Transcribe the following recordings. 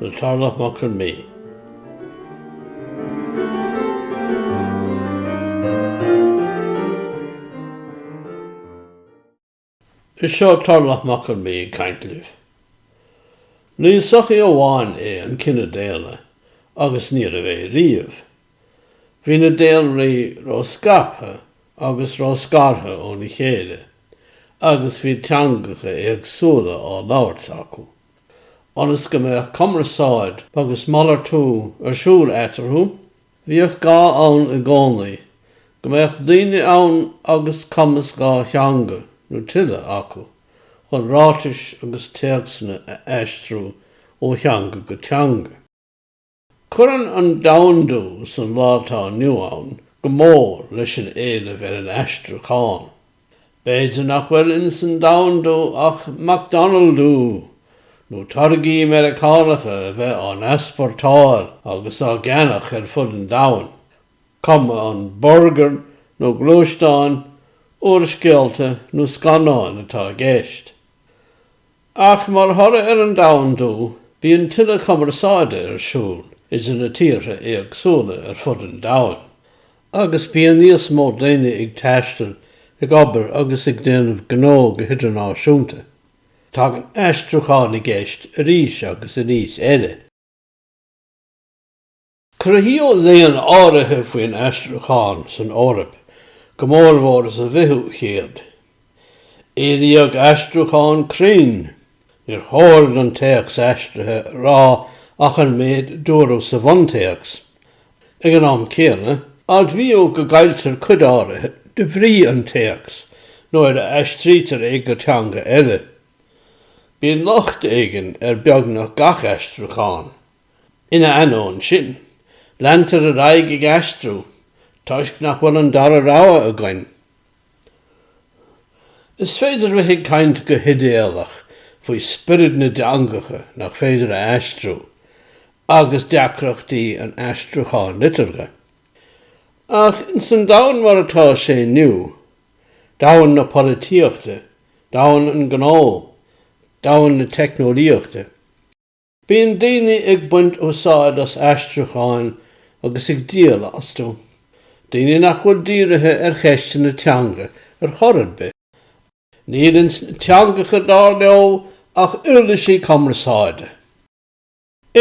le Tarlach Mac Con Midhe. Is seo Tarlach Mac Con Midhe ag caint libh. Ní sochaí amháin é an cine daonna, agus ní raibh é riamh. Bhí na daonraí ró-scaipthe agus ró-scartha óna chéile, agus bhí teangacha éagsúla á labhairt acu. ionas go mbeadh cumarsáid agus malartú ar siúl eatarthu. Bhíodh gá ann i gcónaí go mbeadh daoine ann agus cumas dhá theanga nó tuilleadh acu chun ráitis agus téacsanna a aistriú ó theanga go teanga. Cuireann an domhandú san lá atá inniu ann go mór leis an éileamh ar an aistriúchán. B'fhéidir nach bhfuil ins an domhandú ach McDonaldú, nó táirgí Meiriceánacha a bheith á n-easportáil agus á gceannach ar fud an domhain, cuma an burgair nó gluaisteáin, úrscéalta nó scannáin atá i gceist. Ach mar thoradh ar an domhandú, bíonn tuilleadh cumarsáide ar siúl idir na tíortha éagsúla ar fud an domhain, agus bíonn níos mó daoine ag taisteal, ag obair agus ag déanamh gnó go hidirnáisiúnta. Tagann aistriúchán i gceist arís agus arís eile. Cruthaíodh léann áirithe faoin aistriúchán san Eoraip, go mórmhór sa bhfichiú céad. Éilíodh aistriúchán cruinn. Níor chóir don téacs aistrithe a rá ach an méid a dúradh sa bhuntéacs. Ag an am céanna, admhaíodh go gcailltear cuid áirithe de bhrí an téacs nuair a aistrítear é go teanga eile. Bíonn locht éigin ar beagnach gach aistriúchán. Ina ainneoin sin, leantar ar aghaidh ag aistriú toisc nach bhfuil an dara rogha againn. Is féidir a bheith ag caint go hidéalach faoi spiorad na dteangacha nach féidir a aistriú agus deacrachtaí an aistriúcháin liteartha. Ach ins an domhan mar atá sé inniu, domhan na polaitíochta, domhan an ghnó, domhan na teicneolaíochta, Bíonn daoine ag baint úsáid as aistriúcháin agus ag díol astu, daoine nach bhfuil dírithe ar cheisteanna teanga ar chor ar bith. Níl sna teangacha, dar leo, ach uirlisí cumarsáide.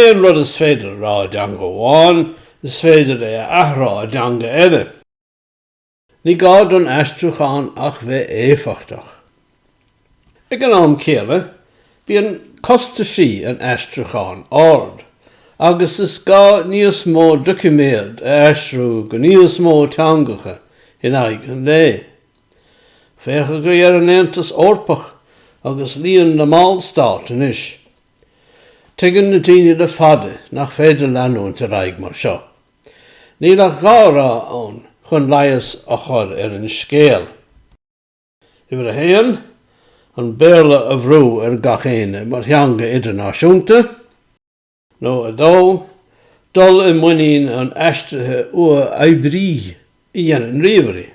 Aon rud is féidir a rá i dteanga amháin, is féidir é a athrá i dteanga eile. Ní gá don aistriúchán ach bheith éifeachtach. Ag an am céanna, bíonn costaisí an aistriúcháin ard, agus is gá níos mó doiciméad a aistriú go níos mó teangacha in aghaidh an lae. Féach agaibh ar an Aontas Eorpach agus líon na mballstát anois. Tuigeann na daoine le fada nach féidir leanúint ar aghaidh mar seo. Níl ach dhá rogha ann chun leigheas a chur ar an scéal. Uimhir a haon, an Béarla a bhrú ar gach éinne mar theanga idirnáisiúnta, nó a dó, dul i muinín an aistrithe uathoibrígh a dhéanann ríomhairí.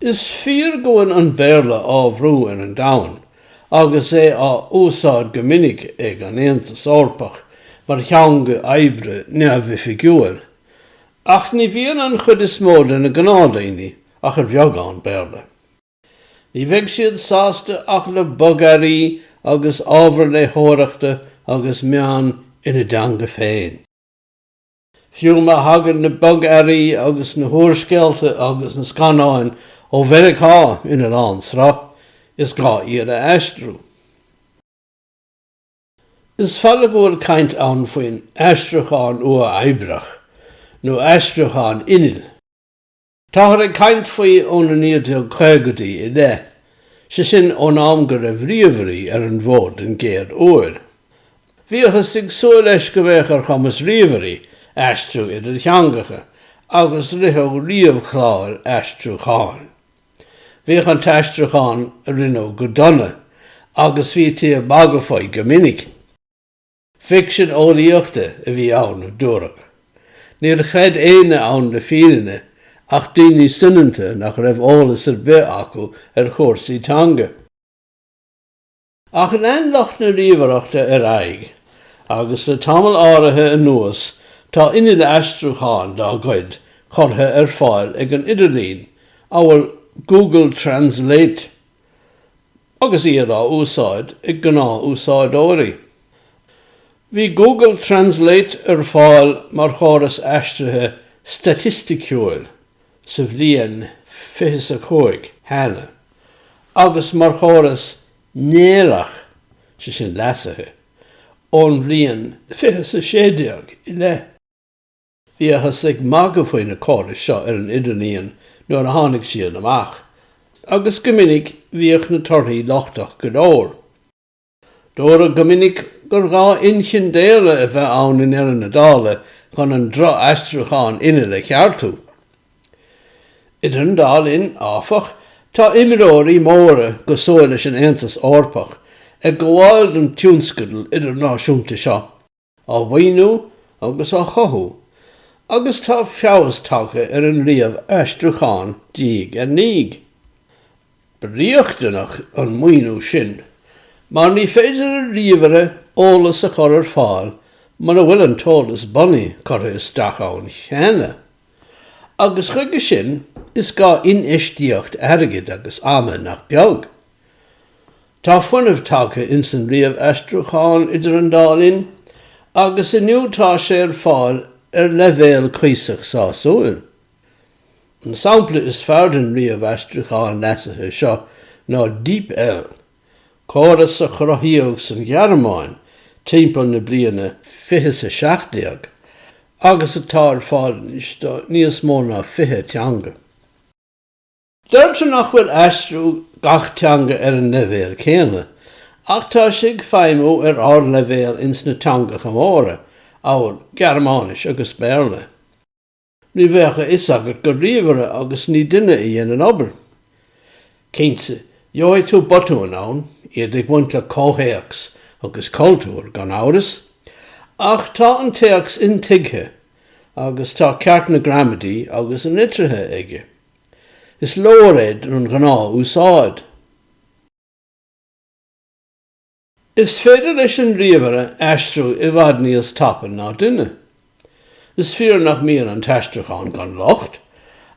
Is fíor go bhfuil an Béarla á bhrú ar an domhan agus é á úsáid go minic ag an Aontas Eorpach mar theanga oibre neamhoifigiúil, ach ní bhíonn an chuid is mó de na gnáthdaoine ach ar bheagán Béarla. Ní bheidh siad sásta ach le bogearraí agus ábhar léitheoireachta agus meáin ina dteanga féin. Fiú má thagann na bogearraí agus na húrscéalta agus na scannáin ó Mheiriceá ina lán sruth, is gá iad a aistriú. Is fada go bhfuil caint ann faoin aistriúchán uathoibríoch, nó aistriúchán innill. Táthar ag caint faoi ó na 1950idí i leith, sé sin ón am go raibh ríomhairí ar an bhfód den gcéad uair. Bhíothas ag súil leis go mbeadh ar chumas ríomhairí aistriú idir theangacha agus ritheadh ríomhchláir aistriúcháin. Bhíodh an t-aistriúchán a rinneadh go dona agus bhítí ag magadh faoi go minic. Ficsean eolaíochta a bhí ann, a dúradh. Níor chreid éinne ann le fírinne ach daoine soineanta nach raibh eolas ar bith acu ar chúrsaí teanga. Ach lean lucht na ríomhaireachta ar aghaidh agus le tamall áirithe anuas tá innill aistriúcháin dá gcuid curtha ar fáil ag an idirlíon, amhail Google Translate. agus iad á úsáid ag gnáthúsáideoirí. Bhí Google Translate ar fáil mar chóras aistrithe staitistiúil sa bhliain 25 cheana agus mar chóras néarach, sé sin leasaithe, ón bhliain 2016 i leith. Bhíothas ag magadh faoi na córais seo ar an idirlíon nuair a tháinig siad amach, agus go minic bhíodh na torthaí lochtach go leor. Dúradh go minic gur ghá inchinn daonna a bheith ann i ndeireadh na dála chun an droch-aistriúchán innill a cheartú. Idir an dá linn, áfach, tá imreoirí móra cosúil leis an Aontas Eorpach ag gabháil don tionscadal idirnáisiúnta seo. á mhaoiniú agus á chothú agus tá feabhas tagtha ar an ríomh-aistriúchán diaidh ar ndiaidh. Ba riachtanach an maoiniú sin mar ní féidir le ríomhaire eolas a chur ar fáil mura bhfuil an t-eolas bunaidh curtha isteach ann cheana, agus chuige sin is gá infheistíocht airgid agus ama nach beag. Tá fuinneamh tagtha ins an ríomh-aistriúchán idir an dá linn agus inniu tá sé ar fáil ar leibhéal cuíosach sásúil. An sampla is fearr den ríomh-aistriúchán leasaithe seo ná DeepL, córas a cruthaíodh san Ghearmáin timpeall na bliana 2017 agus atá ar fáil anois do níos mó ná 20 teanga. Deirtear nach bhfuil aistriú gach teanga ar an leibhéal céanna, ach tá sé ag feidhmiú ar ardleibhéal ins na teangacha móra, amhail Gearmáinis agus Béarla. Ní bheadh a fhios agat gur ríomhaire agus ní duine a dhein an obair. Cinnte, gheobhaidh tú botúin ann, iad ag baint le comhthéacs agus cultúr, gan amhras, ach tá an téacs intuigthe agus tá ceart na gramadaí agus na litrithe aige. Is leor é don ghnáth-úsáid. Is féidir leis an ríomhaire aistriú i bhfad níos tapa ná duine. Is fíor nach mbíonn an t-aistriúchán gan locht,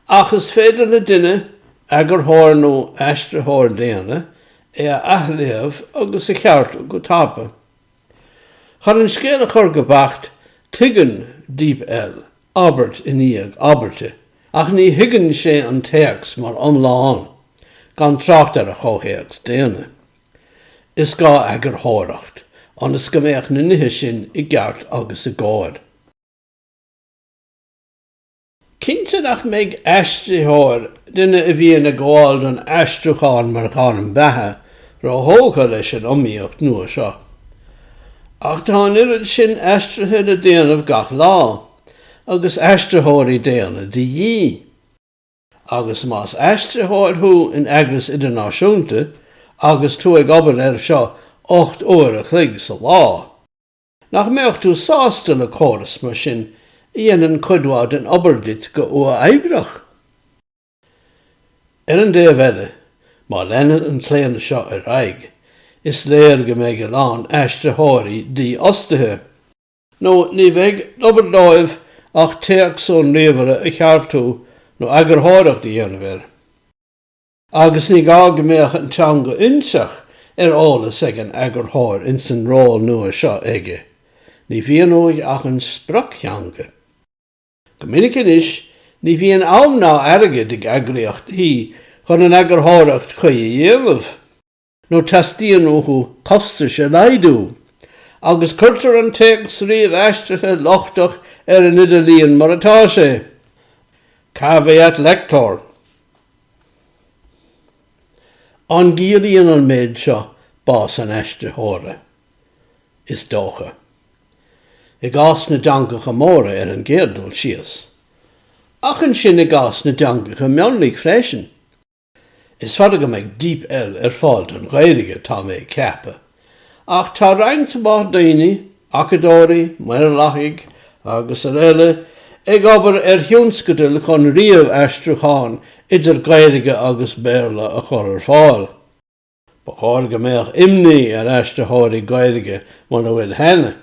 ach is féidir le duine, eagarthóir nó aistritheoir daonna, é a athléamh agus a cheartú go tapa. Chun an scéal a chur go beacht, tuigeann DeepL abairt i ndiaidh abairte, ach ní thuigeann sé an téacs mar iomlán, gan trácht ar a chomhthéacs daonna. Is gá eagarthóireacht, ionas go mbeadh na nithe sin i gceart agus i gcóir. Cinnte nach mbeidh aistritheoir, duine a bhíonn ag gabháil don aistriúchán mar ghairm beatha, róthógtha leis an iomaíocht nua seo. Ach tá an oiread sin aistrithe le déanamh gach lá, agus aistritheoirí daonna de dhíth. Agus más aistritheoir thú in eagras idirnáisiúnta agus tú ag obair ar seo ocht uair a chloig sa lá, nach mbeadh tú sásta le córas mar sin a dhéanann cuid mhaith den obair duit go huathoibreach? Ar an dtaobh eile, má leanann an claonadh seo ar aghaidh, is léir go mbeidh a lán aistritheoirí dífhostaithe, nó ní bheidh d'obair dóibh ach téacs ón ríomhaire a cheartú nó eagarthóireacht a dhéanamh air. Agus ní gá go mbeadh an teanga fhoinseach ar eolas ag an eagarthóir ins an ról nua seo aige, ní bhíonn uaidh ach an sprioctheanga. Go minic anois, ní bhíonn am ná airgead ag eagraíochtaí chun an eagarthóireacht chuí a dhéanamh, nó teastaíonn uathu costais a laghdú, agus cuirtear an téacs ríomhaistrithe lochtach ar an idirlíon mar atá sé. Caveat lector. An gciallaíonn an méid seo bás an aistritheora? Is dócha. i gcás na dteangacha móra ar an gcéad dul síos, ach ansin i gcás na dteangacha mionlaigh freisin. Is fada go mbeidh DeepL ar fáil don Ghaeilge, tá mé ag ceapadh, ach tá roinnt mhaith daoine, acadóirí, maorlathaigh agus araile, ag obair ar thionscadail chun ríomhaistriúchán idir Gaeilge agus Béarla a chur ar fáil. Ba chóir go mbeadh imní ar aistritheoirí Gaeilge mura bhfuil cheana.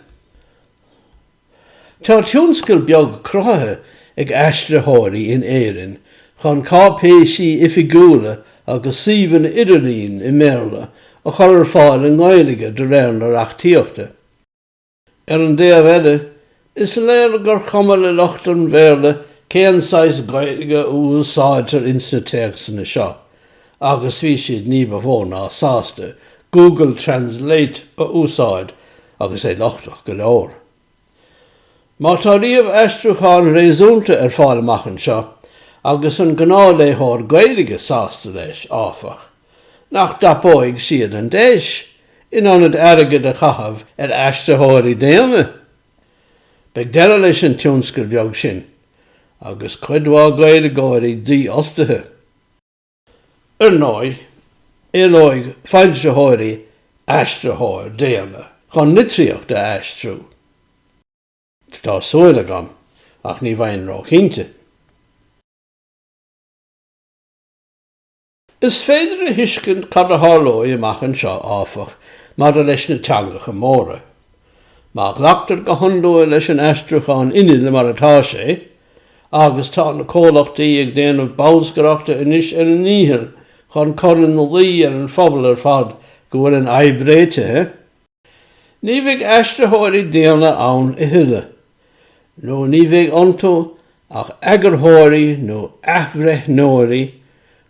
Tá tionscal beag cruthaithe ag aistritheoirí in Éirinn chun cáipéisí oifigiúla agus suíomhanna idirlín i mBéarla a chur ar fáil i nGaeilge de réir na reachtaíochta. Ar an dtaobh eile, is léir gur chuma le lucht an Bhéarla cén saghas Gaeilge a úsáidtear ins na téacsanna seo, agus bhí siad ní ba mhó ná sásta Google Translate a úsáid agus é lochtach go leor. Má tá ríomhaistriúchán réasúnta ar fáil amach anseo, agus an gnáthléitheoir Gaeilge sásta leis, áfach, nach dtapóidh siad an deis, in ionad airgead a chaitheamh ar aistritheoirí daonna. Beidh deireadh leis an tionscal beag sin, agus cuid mhaith Gaeilgeoirí dífhostaithe. Ar ndóigh, éileoidh foilsitheoirí aistritheoir daonna chun litríocht a aistriú. Tá súil agam, ach ní bheinn róchinnte. Is féidir a thuiscint cad a tharlódh amach anseo, áfach, maidir leis na teangacha móra. Má ghlactar go hionlua leis an aistriúchán innill mar atá sé, agus tá na comhlachtaí ag déanamh bolscaireachta anois ar a ndícheall chun cur ina luí ar an phobal ar fad go bhfuil an fhadhb réitithe, Ní bheidh aistritheoirí daonna ann a thuilleadh, nó ní bheidh iontu ach eagarthóirí nó athbhreithneoirí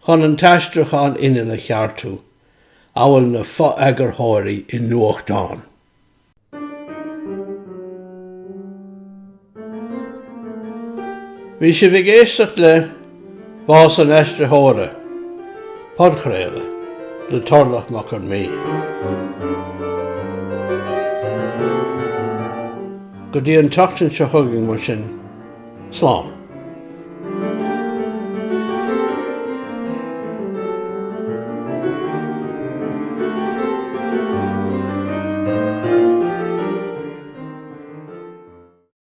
chun an t-aistriúchán innill a cheartú, amhail na fo-eagarthóirí i nuachtán. Bhí sibh ag éisteacht le Bás an Aistritheora, podchraoladh le Tarlach Mac Con Midhe. Go dtí an tseachtain seo chugainn, mar sin, slán!